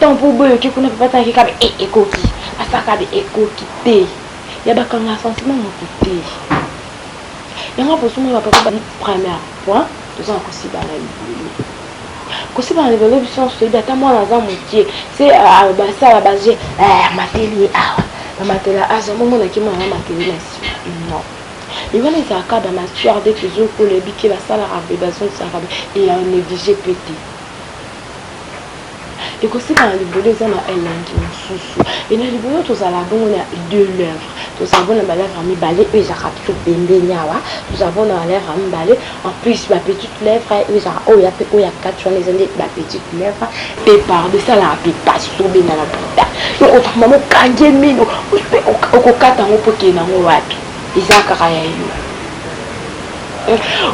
Tant po boye oke kuna papa asala kikabe e ekoki asala kabe ekoki te ya bakanga sentiment moto te yango aposomona bapapa ba première point toza na kosibana libele kosibana libele biso nyonso toyebi ata mwana aza mokie se basala baje amateli ye awa bamatela aza momonaki mwana amateli na nsima non ebana ezalaka ba matière de tozokola ebike basalaka be bazongisaka be eya neglige pe te ekosika na libolo eza na elengi mosusu e na libolo tozala bongo na deux lèvres tozala bona balèvre ya mibale oyo ezalaka biso pembeni awa tozala bona balèvre ya mibale en plus bapetite lèvre oyo ezalaka oyo ya mpe oyo ya kati wana eza nde bapetite lèvre mpe pardo esalaka mpe mpasi tobenda na buta okovanda mokangi ye mino mpe okokata yango mpo okende yango wapi eza kaka ya yo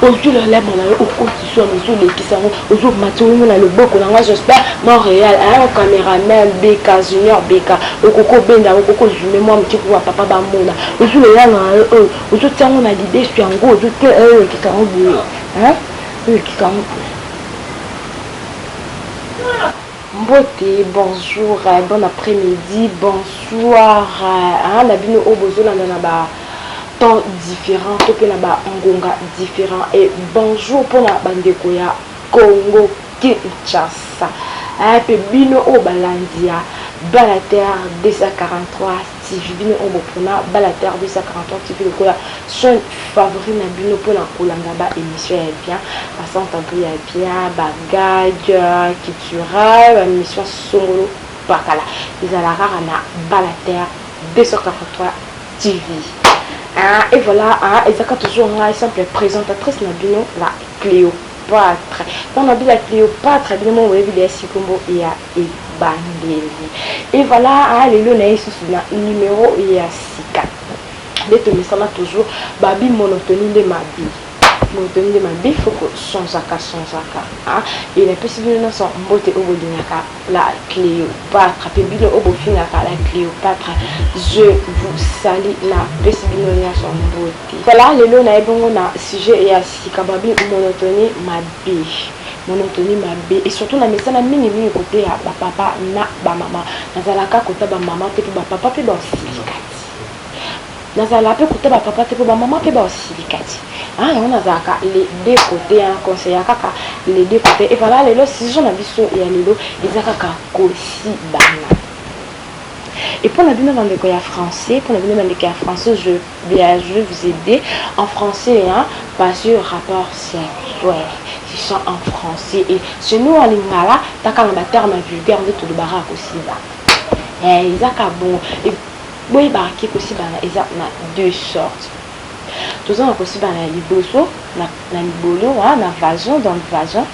ozwi lolemo na yo okoti swana ozolekisa yango ozomati ongo na loboko na ngai j'espère montréal ayango cameraman beka junior beka okoki obenda yango okoki ozume mwa moke kuwa papa bamona ozwi lolemo na yo oyo ozotya yango na lidesu yango ozote olekisa yango boye olekisa yango boye mbote bonjour bon après-midi bonsoir na bino oyo bozolanda na ba temps different to pe na ba ngonga different et bonjour pona ba ndeko ya Congo Kinshasa hein pe bino oyo balandi ya Bala Terre 243 TV bino oyo bopona Bala Terre 243 TV lokola chaîne favori na bino pona kolanda ba emission ya bien ba centre abri ya bien ba gag culturel ba mission songolo pakala ezala kaka na Bala Terre 243 TV ah et voilà ah ezaka toujours ngai simple présentatrice na bino la Cléopâtre mpo na bila Cléopâtre bino mo boyebi de sikombo ya ebandeli et voilà ah lelo na ye susu na numéro ya sika nde tomesana toujours babi monotonie nde mabi monotonie nde mabi foko sanzaka sanzaka ah et napesi bino nyonso mbote oyo bolingaka la Cleopatra pe bino oyo bofingaka la Cleopatra je vous salut na pesi bino nionso mbote. Voilà lelo naye bongo na sujet ya sika babi monotonie mabe monotonie mabe et surtout na mesana mingi mingi kote ya ba papa na ba mama nazalaka kota ba mama te po ba papa pe ba osili kati Nazala pe kote ba papa te po ba maman pe bao silika ti haa yango nazalaka les deux cote hein conseilla kaka les deux cote et voilà lelo sujet na biso ya lelo eza kaka kosibana et pona bino ba ndeko ya français pona bino ba ndeko ya français je bien je vais vous aider en français hein parce que rapport sexuel c'est ça en français et chez nous en lingala takanga ba termes vulgaires nde tolobaka kosibana eh eza ka bongo Boyebaka ke kosibana eza na deux sortes. Toza na kosibana ya liboso na na libolo ha na vagin dans le vagin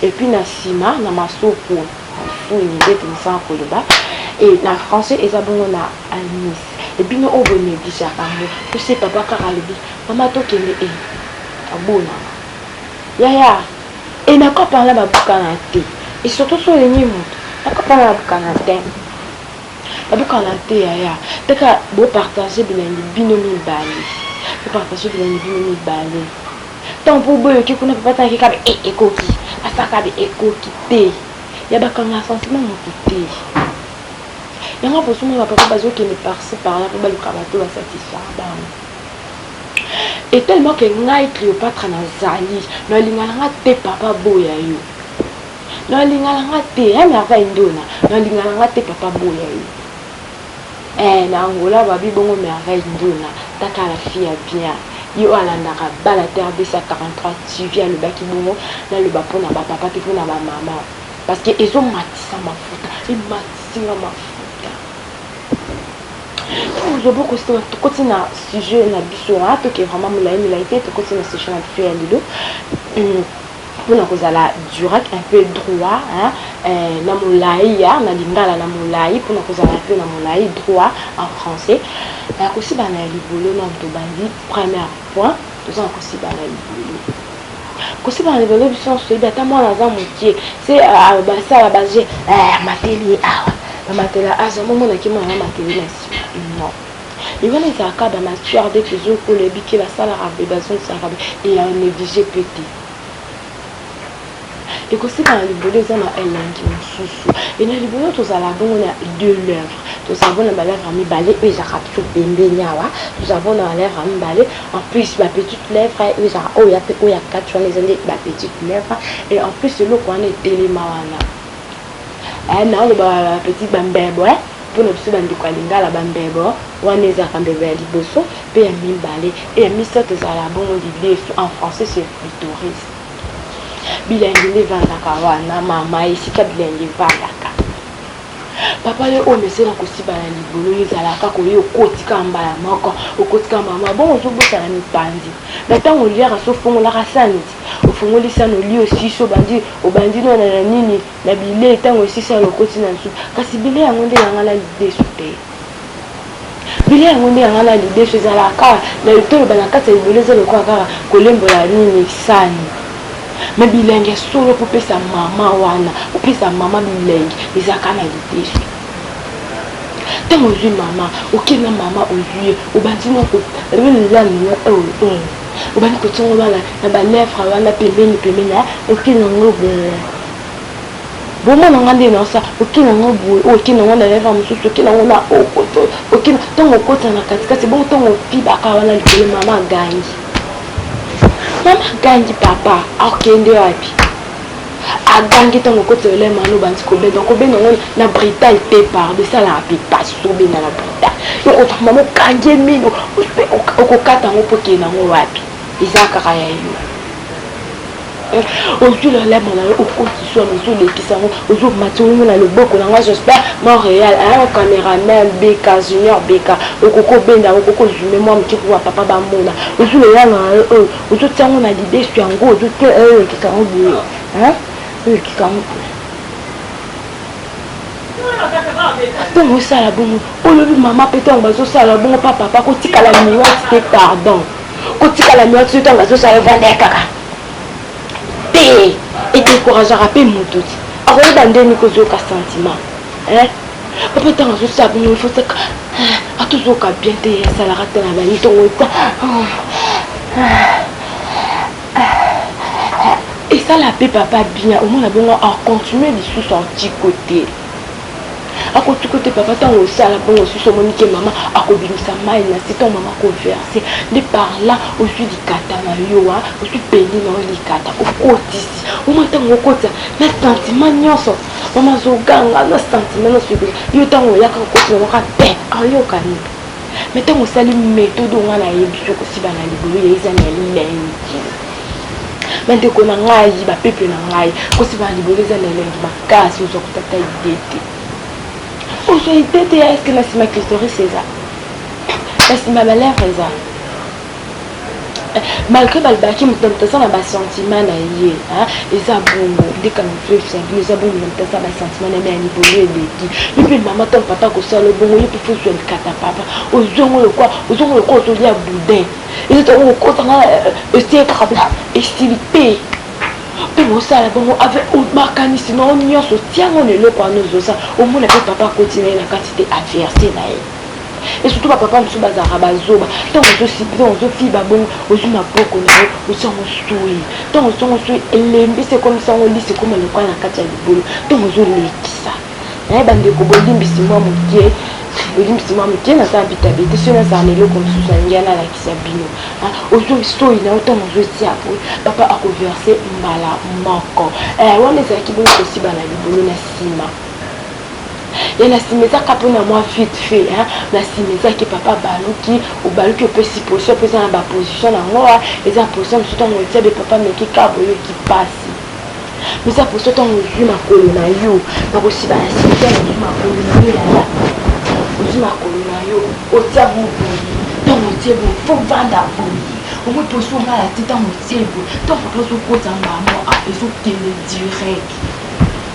et puis na sima na masoko masuuni nde tomesanaka koloba et na français eza bongo na anus et bino oyo bo negligeaka yango tu sais papa kaka alobi mama tokende et abonaka yaya et na kopa wana babukana te et surtout soki olingi moto na kopa wana babukana te. Nabukana te yaya teka bo partage bilengi bino mibale bo partage bilengi bino mibale ntango mpo boyoki kuna papa tala kekabe e ekoki asakabe ekoki te ya bakanga sentiment moto te yango bosuma na papa bazokende parci parla mpo baluka bato basatisfaire bango et tellement que ngai cleopatra nazali nalinga na nga te papa boya yo Non alinga na nga te hein Merva Indona non alinga na nga te papa boya ye eh na Angola babi bongo Merva Indona taka la fille ya bien ye oyo alandaka bana te abesa 43 TV alobaki bongo naloba mpo na bapapa mpe mpo na bamama parce que ezomatisa mafuta ematisi nga mafuta lobo kosima tokoti na sujet na biso wana toke vraiment molai molai te tokoti na sujet na biso ya lelo pona kozala durat un peu droit hein eh, na molayi ya na lingala na molayi pona kozala un peu na molayi droit en français na kosibana ya libolo nanu tobandi premier point toza na kosibana ya libolo kosibana libolo biso nyonso toyebi ata mwana aza mokie se basala baje mateli awa bamatela azo momonaki mwana amateli na nsima non Mais wana ezalaka kaka ba matière de toujours oyo nayebi ke basalaka boye bazongisaka boye et ya negliger pe te. Ekosila na libolo eza na elengi mosusu et na libolo tozala bongo na deux lèvres tozala bongo na ba lèvres mibale oyo ezalaka toujours pembeni awa tozala bongo na ba lèvres mibale en plus ba petites lèvres oyo ezalaka oyo ya pe oyo ya kati wana eza nde ba petites lèvres et en plus eloko wana etelema wana eh naoloba ba petites ba mbebo eh Mpo na biso bandeko ya Lingala, bambebo wana ezalaka mbebo ya liboso mpe ya mibale, mpe ya misato ezalaka bongo lidesu, en français c'est clitoris. Bilengi nde evandaka wana mama, esika bilengi evandaka. Papa yo oyo omesana kosiba na libolo ezalaka kaka oye okoti kaka mbala moko okoti kaka mbala moko bongo ozobosana mipanzi na ntango oliaka so ofongolaka sani ti ofongoli sani olio sisi obandi obandi nona na nini Na bilei tango esisi ya lokoti na nsupu. Kasi bilei yango nde ya ngai na lidesu te. Bilei yango nde ya ngai na lidesu ezalaka kaka na toloba na kati ya libolo eza lokola kaka kolembola nini sani. Mais bilengi ya solo mpo pesa mama wana opesa mama bilengi eza kaka na lidesu. Tango ozwi mama oke na mama ozwi ye obandi na ko obandi kotongo bana na ba lèvres wana pembeni pembeni oke na ngo boye. Vraiment na nga nde na sa oke na nga boye oyo oke na nga na leva mosusu oke na nga na okoto oke na ntango okota na katikati bongo ntango opibaka wana likolo mama agangi mama agangi papa akende wapi agangi ntango okoti na lema wana obandi kobenda okobenda yango na brital te pardo esalaka mpe pasi obenda na brital yokota mama okangi ye mino okokata yango mpo okende yango wapi eza kaka ya yo ozwi lolemo na yo okoti swana ozolekisa yango ozomati olingo na loboko na ngai j'espère montréal ayango cameraman beka junior beka okoki obenda yango okoki ozume mwa moke kuwa papa bamona ozwi lolemo na yo oyo ozotya yango na lidesu yango ozote olekisa yango boye olekisa yango boye ntango osala bongo olobi mama mpe ntango bazosala bongo pa papa kotikala miwati te pardon kotikala nuance yo ntango azosala yo vanda ya kaka te edecourageaka mpe moto ti akoyeba ndeni kozoyoka sentiment papa ntango azosala bino ifosaka atozoyoka bien te asalaka te na bani ntongo eta esala mpe papa bien omona bongo acontinue lisusu antiko te akotuka te papa ntango osala bongo osusu omoni ke mama akobimisa mai na se ntango mama akoverse nde par là ozwi likata na yo wa ozwi peni na yo likata okotisi oma ntango okotisa na sentiment nyonso mama azoganga na sentiment nyonso yo ntango oyaka okoti na yoka te ayokani mais ntango osali methode onga nayebi yo kosiba na libulu ya eza na elengi bandeko na ngai bapeple na ngai kosiba na libulu eza na elengi makasi ozwa kotata ide te ozwa ide te ya eske na nsima clitoris eza na nsima balere eza malgré balobaki moto na moto aza na basentiment na ye eza bongo ndeka mifefsabino eza bongo na moto aza basentiment na ye ya libolo eleki yo mpe mama to papa akosala bongo yo mpe fozwa likata papa ozongo lokwa ozongo lokwa ozolia boudin ezookotanga esie kaka bla esili mpe mpe bosala bongo avec makanisi na yo nyonso tiango na eloko wana ozosala omona mpe papa akoti na ye na kati te averse na ye et surtout ba papa mosusu bazalaka bazoba ntango ozosipre ozofiba bongo ozwi maboko na yo osango soi ntango osango soi elembi se ekomi sango lisi ekoma lokola na kati ya libolo ntango ozolekisa naye bandeko bolimbisi mwa moke bolimbisi mwa moke naza bitabe te soki nazala na eloko mosusu na ngia nalakisa bino ozwi soi na yo ntango ozotia boye papa akoverse mbala moko eh, wana ezalaki bongo kosiba na libolo na nsima ya na sima ezaka mpo na mwa vite fait hein na sima ezaki papa baluki obaluki opesi position mpe eza na baposition na ngoa eza position mosusu ntango otia be papa meki ka boyoki mpasi eza position ntango ozwi makolo na yo na kosiba na sima ntango ozwi makolo na yo yaya ozwi makolo na yo otia moboye ntango otie boye fo vanda boye omoi mposi ongala te ntango otie boye ntango papa ozokota mbamo a ezokende direct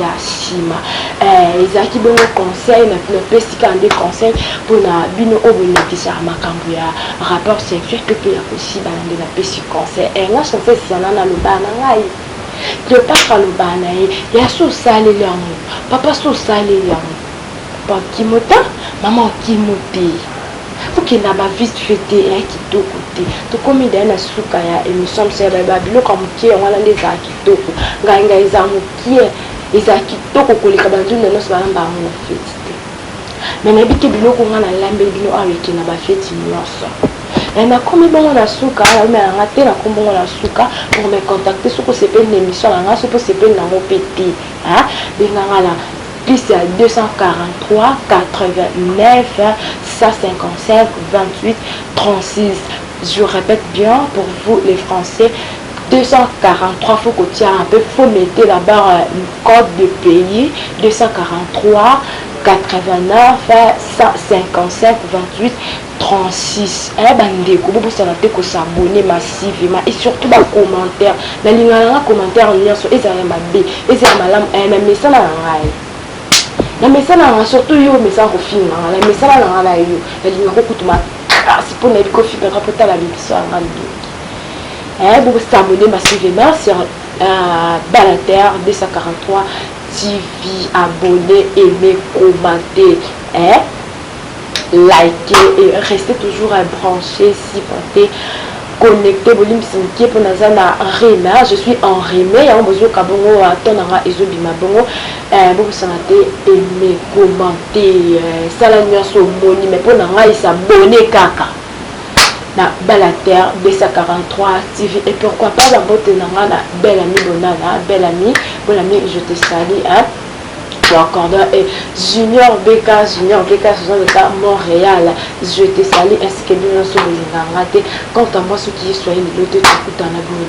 ya sima eh, ezalaki bongo conseil na bino pesi kaka nde conseil mpona bino oyo bolekisaka makambo ya rapport sexuel to mpe ya kosibana nde napesi conseil eh, nga conseil sana nalobaa na ngai cleopatre alobaa na ye ya so osaleli yango papa so osaleli yango papa okimo ta mama okimo te okenda ba vite fait te eya kitoko te tokomi daya na suka ya émission msaya babiloko ya moke yango wana nde ezalaki Kitoko ngai ngai eza mukie eza kitoko koleka ba ndunda nionso balamba yango na feti te me nayebi te biloko ngai nalambeli bino awa eke na bafeti nyonso e nakomi bongo na suka naomela ngai te nakomi bongo na suka pour me contacter soki osepeli na émission na ngai soki osepeli na yango mpe te benga ngai na plus ya 243 89 155 28 36 je répète bien pour vous les français 243 faut kotia un peu faut mete la barre code de pays 243 89 155 28 36 eh ba ndeko bo bosana te ko s'abonner massivement et surtout ba commentaires na lingaka nanga commentaire nionso ezala ya mabe ezala ya malamu eh na mesana na ngai na mesana na ngai surtout yo omesana kofinga ngai na mesana na ngai na yo na lingaka kokutuma kasi mpo nayebi kofingaka mpo tala miso ya ngai ndoki eh, bo s'abonner massive main sur euh, Balater 243 TV abonner aimer commenter eh liker et rester toujours branché supporter connecté bolimbisi moke mpo naza na rime je suis en rime yango bozoyoka bongo to na nga ezobima bongo eh, bobosana te aime commente eh, sala nyonso omoni me mpo na ngai sabone kaka na bala terre 243 tv et pourquoi pas ba mbote na nga na belle amie bonana belle amie belle amie je te salue hein Cordon et Junior Beka, Junior Beka, ce sont des cas Montréal. Je te salue ainsi que bien sûr les Quant à moi, ceux qui soient les deux, tu écoutes en abonné.